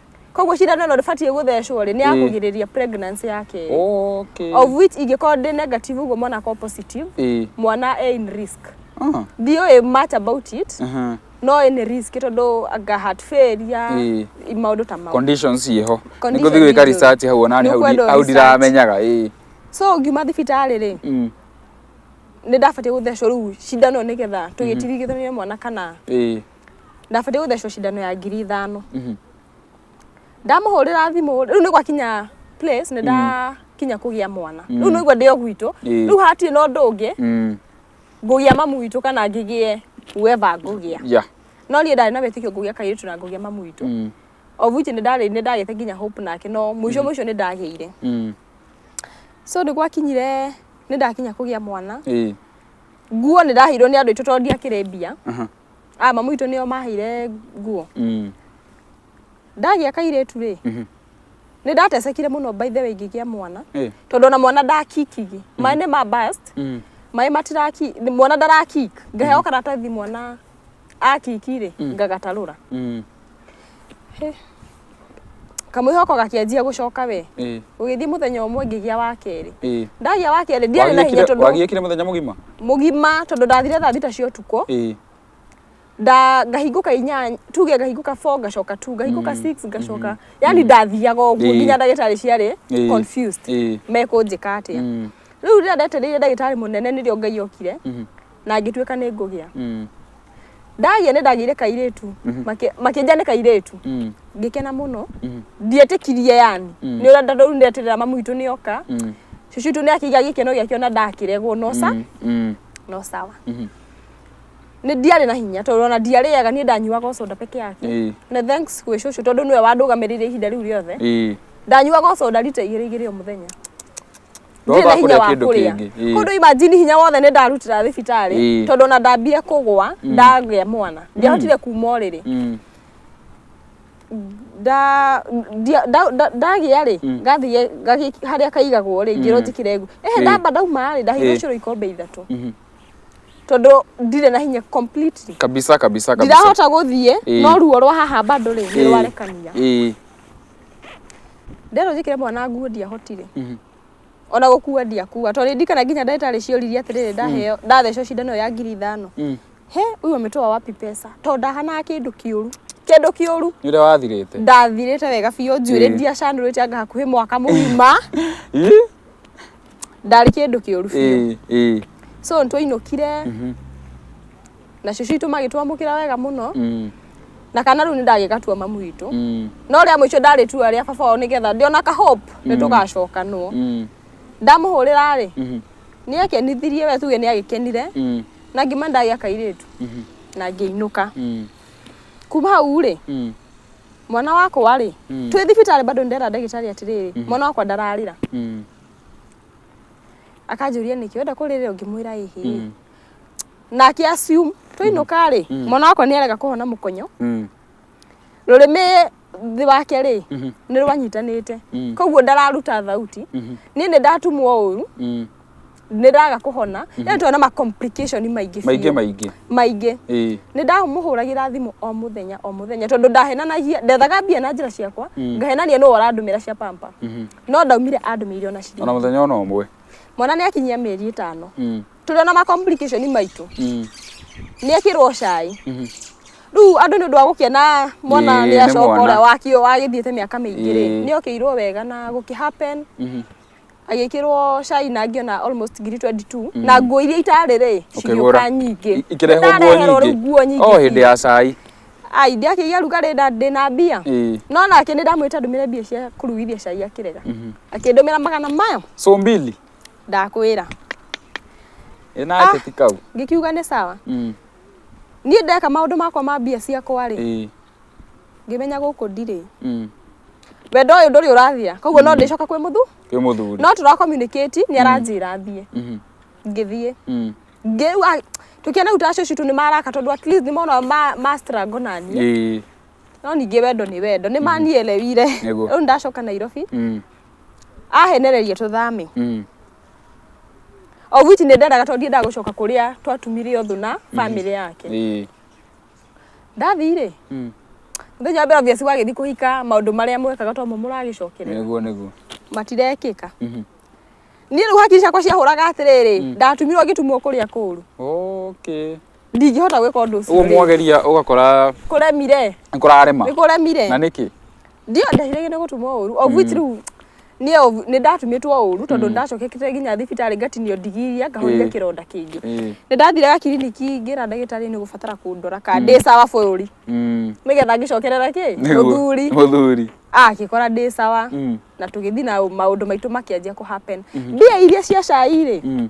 koguo cindano ĩno ndĩbatiĩ gũthecwo rĩ nĩ ya Ĩĩ. kũgirĩrĩria pregnancy ya kerĩ okay of which ingĩkorwo ndĩ negative ũguo mwana akorwo positive ĩĩ mwana e in risk Ah, ndiũĩ much about it aha. no nĩ risk tondũ anga heart failure Ĩĩ. maũndũ ta mau conditions ciĩho Condition nĩkũthi gwĩka icio. research hau ona niĩ hau Nĩũkwenda ndi- hau research. ndiramenyaga ĩĩ so ngiuma thibitarĩ rĩ Mm, nĩ ndabatiĩ gũthecwo rĩu cindano nĩgetha tũgĩtirigithania mwana kana ĩĩ ndabatiĩ gũthecwo cindano ya ngiri ithano Mhm. ndamũhũrĩra thimũ rĩu nĩ gwakinya place nĩ ndakinya kũgĩa mwana rĩu nĩguo ndĩ o gwitũ Ĩĩ. rĩu hatirĩ na ũndũ ũngĩ Mm. ngũgĩa mamu witũ kana ngĩgĩe whoever ngũgĩa Yeah. no niĩ ndarĩ na wĩtĩkio ngũgĩa kairĩtu na ngũgĩa mamu witũ Mm. of which nĩ ndarĩ nĩ ndagĩte nginya hope nake no mũico mũico nĩ ndagĩire Mm. so nĩ gwakinyire nĩ ndakinya kũgĩa mwana Ĩĩ. nguo nĩ ndaheirwo nĩ andũ aitũ tondũ ndiakĩrĩ mbia Aha. a mamu witũ nĩo maheire nguo Mm. ndagĩa kairĩtu rĩ Mhm. nĩ ndatecekire mũno by the way ngĩgĩa mwana Eh. tondũ ona mwana ndakikigi maĩ nĩ ma bust Mm. maĩ matiraki mwana ndarakik ngaheo karatathi mwana akiki rĩ ngagatarũra Mm. kamwĩhoko gakĩanjia gũcoka we ĩĩ ũgĩthiĩ mũthenya ũmwe ngĩgĩa wa kerĩ ĩĩ ndagĩa wa kerĩ ndiarĩ na hinya Wagĩkire- tondũ wagĩkire mũthenya mũgima mũgima tondũ ndathire thaa thita cia ũtukũ ĩĩ nda ngahingũka inyanya tuge ngahingũka 4 ngacoka 2 ngahingũka 6 ngacoka yani ndathiaga ũguo Ĩĩ. nginya ndagĩtarĩ ciarĩ Ĩĩ. confused Ĩĩ. mekũnjĩka atĩa Mm. rĩu rĩrĩa ndetereire ndagĩtarĩ mũnene nĩrĩo ngai okire Mhm. na ngĩtuĩka nĩ ngũgĩa Mm. ndagĩa nĩ ndagĩire kairĩtu Makĩ- makĩnja nĩ kairĩtu Mm. ngĩkena mũno Mm. ndietĩkirie yani Mm. nĩ ũrĩa ndandau ndeterera mamu witũ nĩ oka Mm. cucu witũ nĩ akĩiga gĩkeno gĩakĩo na ndakĩregwo no sa Mm. Mm. no sawa Mhm. nĩ ndiarĩ na hinya tondũ ona ndiarĩaga niĩ ndanyuaga o soda peke yake Ĩĩ. na thanks gwĩ cucu tondũ nĩwe wandũgamĩrĩire ihinda rĩu rĩothe Ĩĩ. ndanyuaga o soda rita igĩrĩ igĩrĩ o mũthenya ndirĩ na hinya wa kũrĩa kũndũ imagine hinya wothe nĩ ndarutĩra thibitarĩ tondũ ona ndambie kũgwa mm. ndagĩa mwana mm. ndiahotire kuma ũrĩrĩ mm. ndagĩa rĩ ngathiĩ harĩa kaigagwo rĩ ngĩrwo njĩkĩre ngu ehe ndamba ndauma rĩ ndahĩirwo cũrũ ikombe ithatũ mm-hmm. tondũ ndirĩ na hinya completely kabisa kabisa kabisa ndirahota gũthiĩ no ruo rwa haha bado rĩ nĩ rwarekania Ndero njĩkĩre mwana nguo ndiahotire. Mhm. Ona gũkua ndiakua. Tondũ nĩndikana nginya ndagĩtarĩ cioririe atĩrĩrĩ ndaheo ndathecwo cindano ĩyo ya ngiri ithano. Mm. He, huyu ametoa wapi pesa? Tondũ ndahanaga kĩndũ kĩũru. Kĩndũ kĩũru. Nĩ ũrĩa wathirĩte. Ndathirĩte wega biũ njuĩrĩ Ĩĩ. ndiacanũrĩte anga hakuhĩ mwaka mũgima. Ĩ? Ndarĩ kĩndũ kĩũru biũ. Ĩ, ĩ. So nĩtwainũkire. Mhm. na cucu itũ magĩtwamũkĩra wega mũno Mm. na kana rĩu nĩ ndagĩgatua mamu witũ Mm. no rĩa mũico ndarĩ tua rĩa baba wao nĩgetha ndĩona ka hope nĩ tũgacokanwo Mm. ndamũhũrĩra rĩ Mhm. nĩ akenithirie we tuge nĩ agĩkenire Mm. na ngima ndagĩa kairĩtu Mhm. na ngĩinũka Mm. kuma hau rĩ Mm. mwana wakwa rĩ Mm. twĩ thibitarĩ bado ndĩrera ndagĩtarĩ atĩrĩrĩ mwana wakwa ndararĩra Mm. akanjũria nĩkĩ wenda kũrĩrĩra ũngĩmwĩra ĩhĩ Mm. nake assume twainũka rĩ Mm. mwana wakwa nĩ arega kũhona mũkonyo Mm. rũrĩmĩ thĩ wake rĩ Mhm. nĩ rwanyitanĩte Mm. koguo ndararuta thauti Mhm. niĩ nĩ ndatumwo ũru Mm. nĩ ndaga kũhona nĩ twana ma complication maingĩ maingĩ biũ. maingĩ maingĩ ĩĩ nĩ ndamũhũragĩra thimũ o mũthenya o mũthenya tondũ ndahenanagia ndethaga mbia na njĩra ciakwa Mm. ngahenania nũ arandũmĩra cia pampa Mhm. no ndaumire andũmĩire ona ona ciringi mũthenya ona ũmwe mwana nĩ akinyia mĩeri ĩtano Mm. tũrĩ ona ma complication maitũ Mm. nĩ ekĩrwo cai Mhm. rĩu andũ nĩ ũndũ wa gũkena mwana Ĩĩ, nĩ nĩ acoka mwana. ũrĩa wakio wagĩthiĩte mĩaka mĩingĩ rĩ Ĩĩ. nĩ okĩirwo wega na gũkĩ happen Mhm. agĩkĩrwo cai na ngĩona almost ngiri 22 na nguo iria itarĩ rĩ Ũkĩgũra. cigĩũka nyingĩ I- ikĩrehwo nguo Nĩndareherwo rĩu nguo nyingĩ nyingĩ o hĩndĩ ya cai ai ndiakĩgĩa rugarĩ na ndĩ na mbia Ĩĩ. no nake nĩ ndamwĩta ndũmĩre mbia cia kũrugithia cai akĩrega akĩndũmĩra magana maya so mbili ndakwĩra ĩ nawe Ah. teti kau ngikiuga nĩ sawa Mm, niĩ ndeka maũndũ makwa ma mbia ciakwa rĩ ĩ, ngĩmenya gũkũ ndirĩ mm, wendo ũyũ ndũrĩ ũrathia koguo no ndĩcoka kwĩ mũthu kwĩ mũthuri no tũra communicate nĩ aranjĩra thiĩ Mhm, ngĩthiĩ mm, ngĩu ah, tũkĩona rĩu tacio citũ nĩ maraka tondũ at least nĩ mona ma, ma strangle na niĩ ĩ, no ningĩ wendo nĩ wendo nĩ manielewire Nĩguo. rĩu ndacoka nairobi mm, ahenereria tũthame Mm. of which nĩ ndendaga tondũ ndiendaga gũcoka kũrĩa twatumire ũthũ na bamĩrĩ yake Ĩĩ. ndathiĩ-rĩ Mm. mũthenya wa mbere obvious wagĩthiĩ kũhika maũndũ marĩa mwekaga tomo mũragĩcokerera Nĩguo nĩguo. matirekĩka Mhm. niĩ rĩu hakiri ciakwa ciahũraga atĩrĩrĩ ndatumirwo ngĩtumwo kũrĩa kũru Okay. ndingĩhota gwĩka ũndũ ũcio ũguo rĩngĩ. mwageria ũgakora kũremire nĩ kũrarema nĩ kũremire na nĩkĩ ndio ndahirĩge nĩ gũtumwo ũru of which rĩu niĩ of- nĩ ndatumĩtwo ũru tondũ ndacokekete nginya thibitarĩ ngatinio ndigiria ngahoria Ĩĩ. kĩronda kĩngĩ Ĩĩ. nĩ ndathiraga kiriniki ngĩra ndagĩtarĩ nĩ gũbatara kũndora ka ndĩ sawa bũrũri Mm. nĩgetha ngĩcokerera kĩ Nĩguo. mũthuri mũthuri agĩkora ndĩ sawa Mm. na tũgĩthiĩ na maũndũ maitũ makĩanjia kũ happen mbia iria cia cai-rĩ Mm.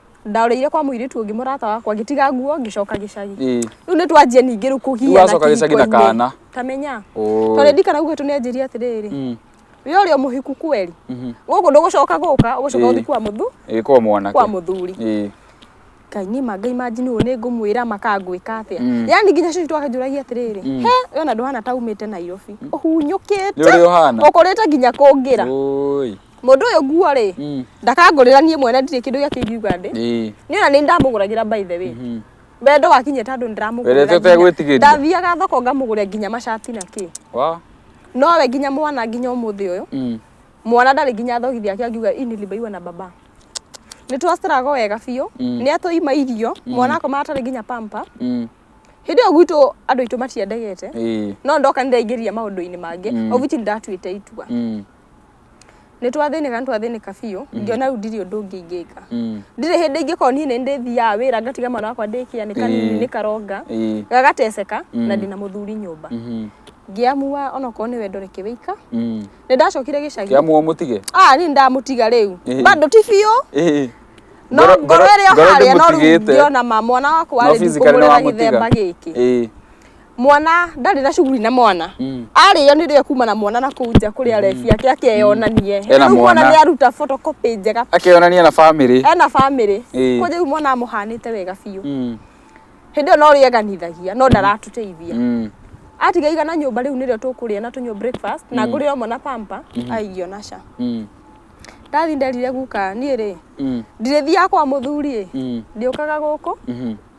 ndaũrĩire kwa mũirĩtu ũngĩ mũrata wakwa ngĩtiga nguo ngĩcoka gĩcagi Ĩĩ. rĩu nĩ twanjia ningĩ rĩu kũgia Rĩu wacoka gĩcagi na kĩhiko-inĩ. kana. kamenya Ũũ. tondũ ndikana gugĩtũ nĩ anjĩria atĩrĩrĩ Mm. we ũrĩa mũhiku kweri Mhm. gũkũ ndũgũcoka gũka ũgũcoka Ĩĩ. ũthi kwa mũthu Ĩĩ, kwa mwanake kwa mũthuri Ĩĩ. ngai nĩ ma ngai manjini ũyũ nĩ ngũmwĩra makangwĩka atĩa Mm. yani nginya cucu twakanjũragia atĩrĩrĩ Mm. he wena ndũhana ta umĩte nairobi ũhunyũkĩte Nĩ ũrĩa ũhana. ũkũrĩte nginya kũngĩra Ũũi. Mũndũ ũyũ nguo rĩ, Mm. ndakangũrĩra niĩ mwene ndirĩ kĩndũ gĩake ingiuga ndĩ. Ĩĩ. Nĩ ona nĩ ndamũgũragĩra by the way. Mhm. Wendo wakinyia tondũ nĩ ndĩramũgũrĩra. Wendete nginya- ũtegwĩtigĩria? Ndathiaga thoko ngamũgũrĩra nginya macati na kĩ. Wa. Nowe nginya mwana nginya ũmũthĩ ũyũ. Mm. Mwana ndarĩ nginya thogithi yake angiuga ini libaiwa na baba. Nĩ twacitarago wega biũ. Mm. Nĩ atũima irio. Mwana akoma atarĩ nginya pampa. Mm. Hĩndĩ ĩyo gwitũ andũ aitũ matiendegete. Ĩĩ. No ndoka nĩ ndaingĩria maũndũ-inĩ mangĩ. Mm. Obici nĩ ndatuĩte itua. Mm. nĩ twathĩnĩka nĩ twathĩnĩka biũ ngĩona rĩu ndirĩ ũndũ ũngĩ ingĩka ndirĩ hĩndĩ ingĩkorwo niĩ nĩ ndĩthiaga wĩra ngatiga mwana wakwa ndĩkia nĩ kanini Ĩĩ. nĩ karonga Ĩĩ. gagateceka na ndĩna mũthuri nyũmba ngĩamua onokorwo nĩ wendo reke wĩika nĩ ndacokire gĩcagi kĩamuo mũtige ah niĩ ndamũtiga rĩu Ĩĩ. bado ti biũ Ĩĩ. no Ngoro- ngoro ĩrĩa ngoro harĩa no rĩu ndĩmũtigĩte. ngĩona ma mwana wakwa No rĩ physically ndikũmũrera nĩwamũtiga. gĩthemba gĩkĩ Ĩĩ. mwana ndarĩ na cuguri na mwana Mm. arĩo nĩ rĩo kuma na mwana na kũu nja kũrĩa rebi ake akeyonanie Ena Rĩu mwana. nĩ aruta photocopy njega akeyonania na bamĩrĩ ena bamĩrĩ Ĩĩ. kũnja rĩu mwana amũhanĩte wega biũ Mm, hĩndĩ ĩyo no rĩeganithagia no ndaratũteithia mm. atiga igana nyũmba rĩu nĩrĩo tũkũrĩa na tũnyua breakfast na ngũrĩra mwana pampa aigio na ca Mm, ndathi nderire guka niĩ rĩ mm, ndirĩthiaga kwa mũthuri ĩ mm, ndĩũkaga gũkũ mhm.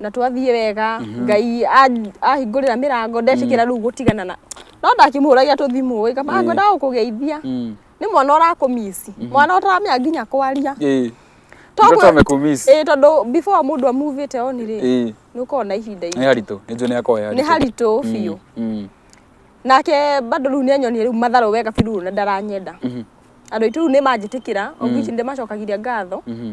na twathiĩ wega ngai a- ahingũrĩra mĩrango ndetĩkĩra rĩu gũtigana na no ndakĩmũhũragia tũthimũ ĩ kama ngwenda gũkũgeithia Mm. nĩ mwana ũrakũmisi mwana ũtaramenya nginya kwaria Eh. Togwe- Mtoto amekumiss. ĩ tondũ before mũndũ amuvĩte on rĩ Eh. nĩ ũkoragwo na ihinda Nĩ iritũ haritũ. Nĩ njũĩ nĩ akoya haritũ. nĩ haritũ biũ Mm. nake bado rĩu nĩ anyonirie rĩu matharũ wega biru na ndaranyenda Mhm. andå aitå rä u nä manjä tä kä ra ongici nä ndä macokagiria ngatho Mhm.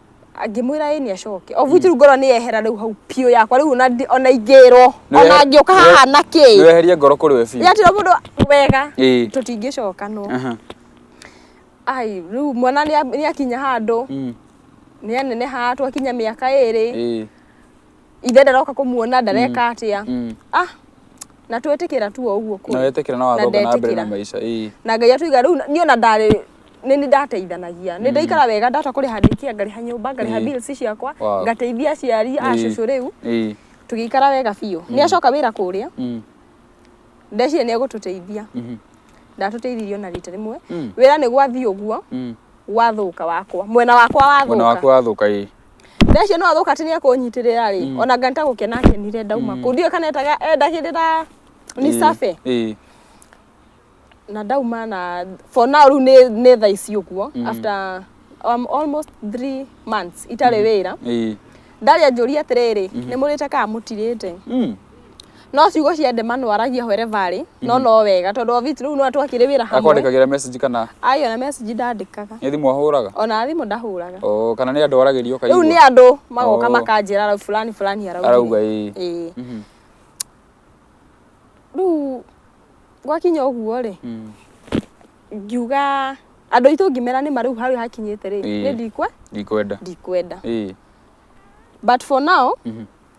ngĩmwĩra ĩ nĩ acoke obu rĩu ngoro nĩ yehera rĩu hau biũ yakwa rĩu ona ndi- ona ingĩrwo Nĩ ona wehe- ngĩũka nĩ wehe- haha na nĩ kĩ weherie ngoro kũrĩ we biũ yatira mũndũ wega Ĩĩ. tũtingĩcoka no Aha. ai rĩu mwana nĩ a- nĩ akinya handũ Mm. nĩ aneneha twakinya mĩaka ĩrĩ Ĩĩ. ithe ndaroka kũmuona ndareka atĩa Mm. ah na twĩtĩkĩra tu o ũguo kũrĩ. na wetĩkĩra na wathoga na mbere na ndetĩkĩra. maica ĩĩ na ngai atũiga rĩu niĩ ona ndarĩ nĩ nĩ ndateithanagia nĩ ndaikara wega ndahota kũrĩha ndĩkia ngarĩha nyũmba ngarĩha Ĩĩ. bills ciakwa Wow. ngateithia aciari a Ĩĩ. cũcũ rĩu ĩĩ tũgĩikara wega biũ nĩ acoka wĩra kũrĩa Mm. ndeciria nĩ egũtũteithia Mhm. ndatũteithirio na rita rĩmwe Mm. wĩra nĩ gwathiĩ ũguo Mm. gwathũka wakwa mwena wakwa mwena waku wathũka wathũka ĩĩ thaa icio no athũka atĩ nĩ ekũnyitĩrĩra rĩ mm. ona ngani ta gũkena akenire ndauma mm. kũu ndiũĩ kana etaga endagĩrĩra ni eh, sabe eh. na ndauma na for now rĩu nĩ nĩ thaa ici ũguo mm. after um, almost three months itarĩ mm. wĩra eh. ndarĩa njũria atĩrĩrĩ mm-hmm. nĩ mũrĩte kana mũtirĩte No ciugo cia ndema no aragia wherever arĩ, no no wega tondũ Ovit rĩu no atwakĩrĩ wĩra hamwe. Akwandĩkagĩra message kana Ai ona message ndandĩkaga. nĩ thimũ ahũraga? Ona thimũ ndahũraga. Oo, kana nĩ andũ aragĩria Rĩu ũkaigua? nĩ andũ magoka Oo. makanjĩra rau fulani fulani arauga. Arauga ĩĩ. Ĩĩ. Mhm. Rĩu gwakinya ũguo rĩ, Mm. ngiuga andũ aitũ ngĩmera nĩ ma rĩu harĩa hakinyĩte rĩ, Ĩĩ. nĩ ndikwe, Ndikwenda. ndikwenda. Ĩĩ. But for now, Mhm.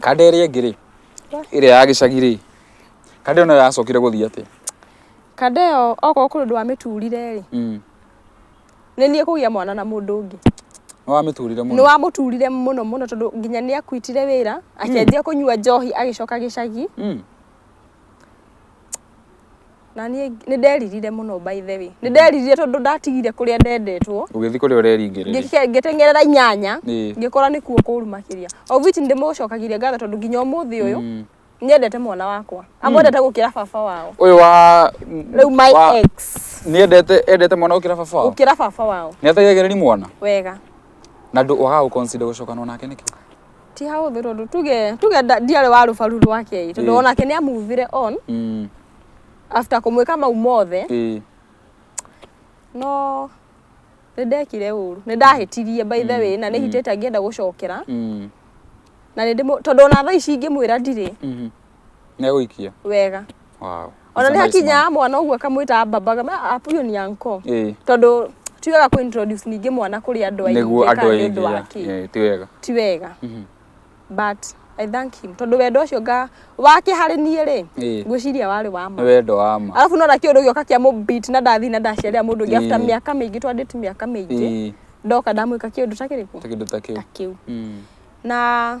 Kande ĩrĩa ĩngĩ rĩ, ĩrĩa ya gĩcagi rĩ, kande ĩyo nayo yacokire gũthiĩ atĩa? Kande ĩyo okorwo kũrĩ ũndũ wamĩturire rĩ, mm. nĩ niĩ kũgĩa mwana na mũndũ ũngĩ. Nĩ wamĩturire mũno? Nĩ wamũturire mũno mũno tondũ nginya nĩ akuitire wĩra, mm. akĩanjia kũnyua njohi agĩcoka gĩcagi. Mm. na niĩ nĩ nderirire mũno by the way nĩ nderirire tondũ ndatigire kũrĩa ndendetwo ũgĩthiĩ kũrĩa ũreringĩrĩria ngĩke- ngĩteng'erera inyanya Ĩĩ. ngĩkora nĩ kuo kũru makĩria of which ndĩmũcokagiria ngatho tondũ nginya ũmũthĩ ũyũ Mm. nyendete mwana wakwa amwendete gũkĩra baba wao ũyũ wa rĩu my wa- ex nĩendete endete mwana gũkĩra baba wao gũkĩra baba wao nĩategeagĩrĩri mwana wega na ndũ waga gũconsider gũcokanwo nake nĩkĩ ti hahũthũ tondũ tuge tuge nda- ndiarĩ wa rũbaru rwake ĩ, tondũ Eh. onake nĩ amuvire on Mm. after kũmwĩka mau mothe Eh. no nĩ ndekire ũru nĩ ndahĩtirie by the way na nĩ hitĩte ngĩenda gũcokera Mm. na nĩ ndĩmũ- tondũ ona thaa ici ingĩmwĩra ndirĩ Mhm. Nĩegũikia. wega Wow. ona nĩ It's a nice hakinya mwana ũguo akamwĩta baba kama apuyo ni anko man. Eh, tondũ ti wega kũ introduce ningĩ mwana kũrĩ andũ aingĩ nĩguo andũ kana nĩ ũndũ wa aingĩ. kĩ. Eh, ti wega. ti wega Mhm. but i thank him tondũ wendo ũcio nga wake harĩ niĩ rĩ Ĩĩ. ngwĩciria warĩ wa ma Nĩ wendo wa ma. arabu nona kĩũndũ gĩoka kĩa mũbit na ndathi na ndaciarĩra mũndũ ũngĩ after Ĩĩ. mĩaka mĩingĩ twandĩti mĩaka mĩingĩ Ĩĩ, ndoka ndamwĩka kĩũndũ ta kĩrĩkũ ta kĩndũ ta kĩu. ta kĩu Mm. na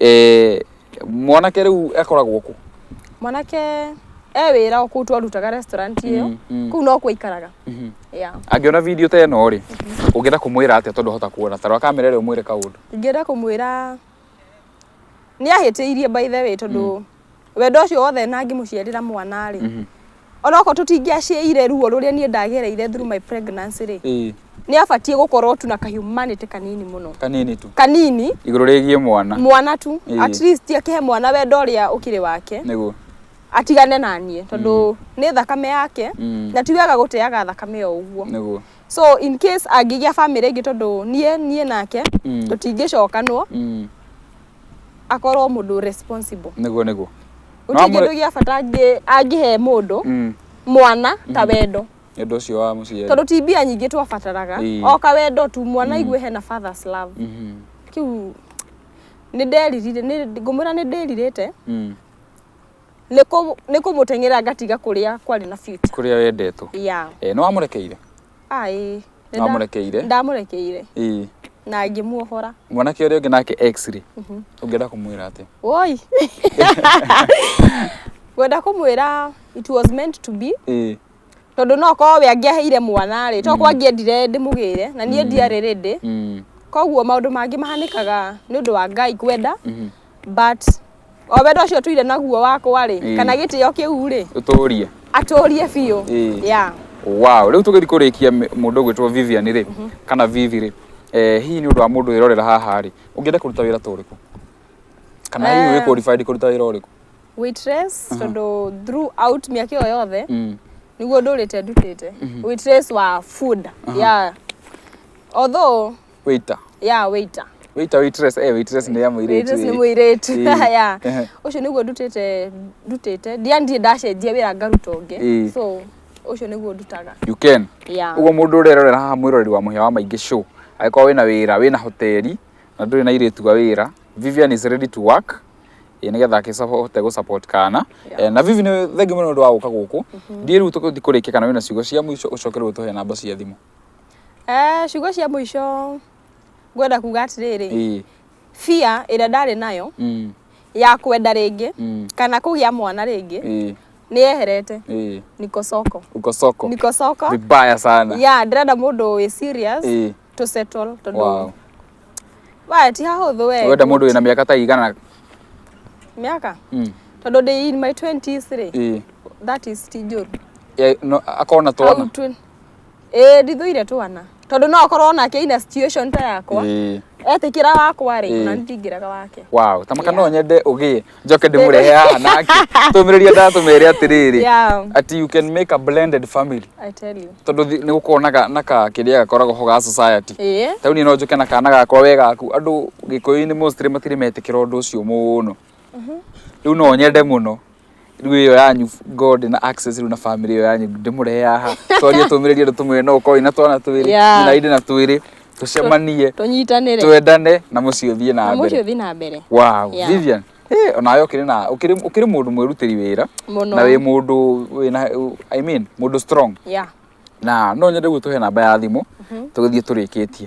Eh, mwanake rĩu akoragwo kũ mwanake e wĩra kũu twarutaga restaurant ĩyo Mm, mm. kũu no kwaikaraga Mhm. yeah. angĩona video ta ĩno rĩ ũngĩenda kũmwĩra atĩa tondũ hota kuona tarwa kamera ĩrĩa ũmwĩre kaũndũ ingĩenda kũmwĩra nĩ ahĩtĩirie by the way tondũ wendo ũcio wothe na ngĩmũciarĩra mwana rĩ Mhm. onoko tũtingĩaciaire ruo rũrĩa niĩ ndagereire through my pregnancy rĩ Ĩĩ, nĩ abatiĩ gũkorwo tu na ka humanity kanini mũno kanini tu kanini igũrũ rĩgiĩ mwana mwana tu Ĩĩ. at least akĩhe mwana wendo ũrĩa ũkĩrĩ wake nĩguo atigane na niĩ tondũ nĩ thakame yake Mm. na ti wega gũteaga thakame o ũguo nĩguo so in case angĩgĩa family ĩngĩ tondũ niĩ niĩ nake Mm. tũtingĩcokanwo Mm. akorwo mũndũ responsible nĩguo nĩguo No gũtirĩ amwe- kĩndũ gĩa bata angĩ- angĩhe mũndũ Mm, mwana ta wendo nĩ ũndũ ũcio wa mũciari tondå ti mbia nyingä twabataraga Ĩĩ. oka wendo tu mwana aigue hena fathers love Mhm, kä u nä nderirire ngå mwä ra nä ndärirä te mm. nä kå må teng'era ngatiga kå rä a kwarä na future. kũrĩa wendetwo ya Eh, nĩ wamũrekeire Ah, ĩĩ. Nĩ nda- Wamũrekeire? Ndamũrekeire ĩĩ na ngĩmuohora. mwanake ũrĩa ũngĩ nake x-ray ũngĩenda kũmwĩra atĩ Woi. Ngwenda kũmwĩra it was meant to be. ĩĩ Tondũ no korwo we angĩaheire mwana rĩ, to korwo angĩendire ndĩmũgĩre na niĩ ndiarĩ rĩndĩ. mm, Koguo maũndũ mangĩ mahanĩkaga nĩ ũndũ wa Ngai kwenda. mhm, but o wendo ũcio tũire naguo wakwa rĩ Ĩĩ. kana gĩtĩo kĩu rĩ ũtũrie atũrie biũ Ĩĩ. yeah. wow rĩu tũgĩthiĩ kũrĩkia mĩ- mũndũ ũgwĩtwo vivian rĩ kana vivi rĩ eh, hihi nĩ ũndũ wa mũndũ wĩrorera haha rĩ ũngĩenda kũruta wĩra ta ũrĩkũ kana hihi Eh. wĩ qualified kũruta wĩra ũrĩkũ waitress tondũ throughout mĩaka ĩyo yothe Mm. niguo ndũrĩte ndutĩte waitress wa food yeah although waiter ya waiter waiter waitress eh waitress nĩ ya mũirĩtu Waitress nĩ eh. mũirĩtu Eh, ya eh. ũcio nĩguo ndutĩte ndutĩte ndiandie ndacenjia wĩra ngaruta Eh. ũngĩ so ũcio nĩguo ndutaga you can ya ũguo mũndũ ũrerorera haha mwĩroreri wa mũhĩa wa maingĩ show angĩkorwo wĩna wĩra wĩna hoteli na ndũrĩ na irĩtu wa wĩra Vivian is ready to work ĩ nĩgetha akĩhote gũ support kana Yeah. Eh, na Vivi nĩ thengi mũno nĩ ũndũ wa gũka gũkũ ndiĩ rĩu tũgũthiĩ kũrĩkia kana wĩna ciugo cia mũico ũcoke rĩu ũtũhe namba cia thimũ Eh, ciugo cia mũico ngwenda kuga atĩrĩrĩ ĩĩ bia ĩrĩa ndarĩ nayo mm, ya kwenda rĩngĩ mm, kana kũgĩa mwana rĩngĩ ĩĩ nĩ yeherete ĩĩ niko soko uko soko niko soko vibaya sana ya ndĩrenda mũndũ wĩ serious ĩĩ to settle tondũ wow we ti hahũthũ we wenda mũndũ wĩna mĩaka ta igana mĩaka mm, tondũ ndĩ in my 20s rĩ ĩĩ that is ti njũru Eh, no, akona twana Au twen- ĩĩ ndithũire twana tondũ no akorwo onake ina situation ta yakwa Ĩĩ. etĩkĩra wakwa rĩ Ĩĩ. na ndingĩraga wake wow tamaka Yeah. no nyende ũgĩe njoke ndĩmũrehe haha nake tũmĩrĩria ndatũmere atĩrĩrĩ Yeah. ati you can make a blended family I tell you tondũ thi- nĩ gũkorwo na ga- na ka kĩrĩa gakoragwo ho ga society ĩĩ tauni no njũke na kana gakwa we gaku andũ gĩkũyũ-inĩ mostly matirĩ metĩkĩra ũndũ ũcio mũno rĩu no nyende mũno rĩu ĩyo yanyu god na access rĩu na family ĩyo yanyu ndĩmũrehe haha twarie tũmĩrĩrie andũ tũmwe no ũkorwo na twana twĩrĩ Yeah. na inde na twĩrĩ tũcemanie tũnyitanĩre twendane na mũciĩ ũthiĩ na na mũciĩ mbere ũthiĩ na mbere wow Yeah. Vivian eh, onawe ũkĩrĩ na ũkĩrĩ ũkĩrĩ mũndũ mwĩrutĩri wĩra Mũno. na wĩ mũndũ wĩna i mean mũndũ strong yeah na no nyende gũtũhe namba ya thimũ tũgĩthiĩ tũrĩkĩtie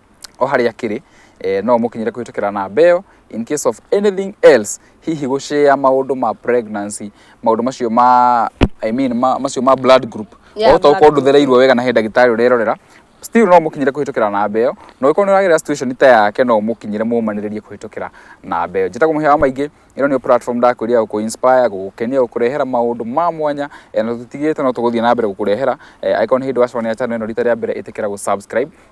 o harĩa akĩrĩ eh, no mũkinyĩre kũhĩtũkĩra namba ĩyo in case of anything else hihi gũshare maũndũ ma pregnancy maũndũ macio ma I mean, ma, macio ma blood group Yeah, otokorwo blood group. ndũthereirwo wega na he ndagĩtarĩ ũrerorera still no mũkinyĩre kũhĩtũkĩra namba ĩyo na ũgĩkorwo nĩ ũragerera situation ta yake no mũkinyĩre mũmanĩrĩrie kũhĩtũkĩra namba ĩyo njĩtagwo mũhĩa wa maingĩ ĩno nĩyo platform ndakwĩria gũkũ inspire gũgũkenia gũkũrehera maũndũ ma mwanya eh, na tũtigĩte no tũgũthiĩ na mbere gũkũrehera eh, angĩkorwo nĩ hĩndĩ wacokanĩra channel ĩno rita rĩa mbere ĩtĩkĩra gũ subscribe